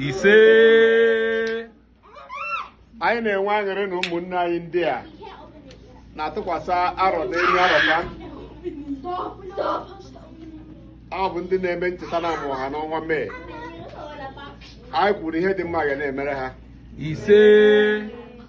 ise anyị na-enwe aṅụrị na ụmụnne anyị ndị a na-atụkwasị arọ n'elu arọ ha ọ bụ ndị na-eme ncheta na a mụrụ ha n'ọnwa Mee anyị kwuru ihe dị mma ga na-emere ha ise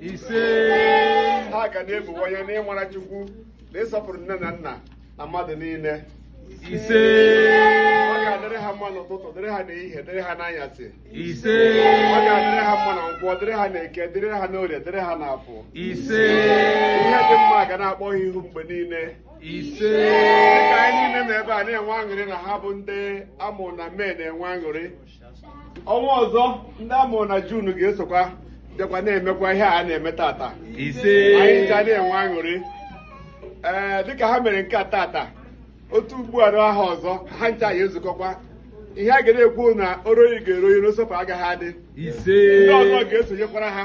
ise ha ga na-ebuwanye n'ịmara Chukwu na ịsọpụrụ nne na nna na mmadụ niile ise ọ ga-adịrị ha mma n'ụtụtụ dịrị ha n'ehihie dịrị ha n'anyasị ise ọ ga-adịrị ha mma na nkwọ dịrị ha n'eke dịrị ha n'orie dịrị ha n'afọ ise ihe dị mma ga na-akpọ ha ihu mgbe niile ise dịka anyị niile nọ ebe a na-enwe aṅụrị na ha bụ ndị a mụ na Mee na-enwe aṅụrị ọnwa ọzọ ndị a mụrụ na Jun ga-esokwa bịakwa na-emekwa ihe a na-eme tata anyị ga na-enwe aṅụrị ee dịka ha mere nke a tata otu ugbu a ahọ ọzọ ha ncha ya-ezukọkwa ihe a ga na-ekwu na oroyi ga-eroyi n'osọpụ agaghị adị ndị ọzọ ga-esonyekwara ha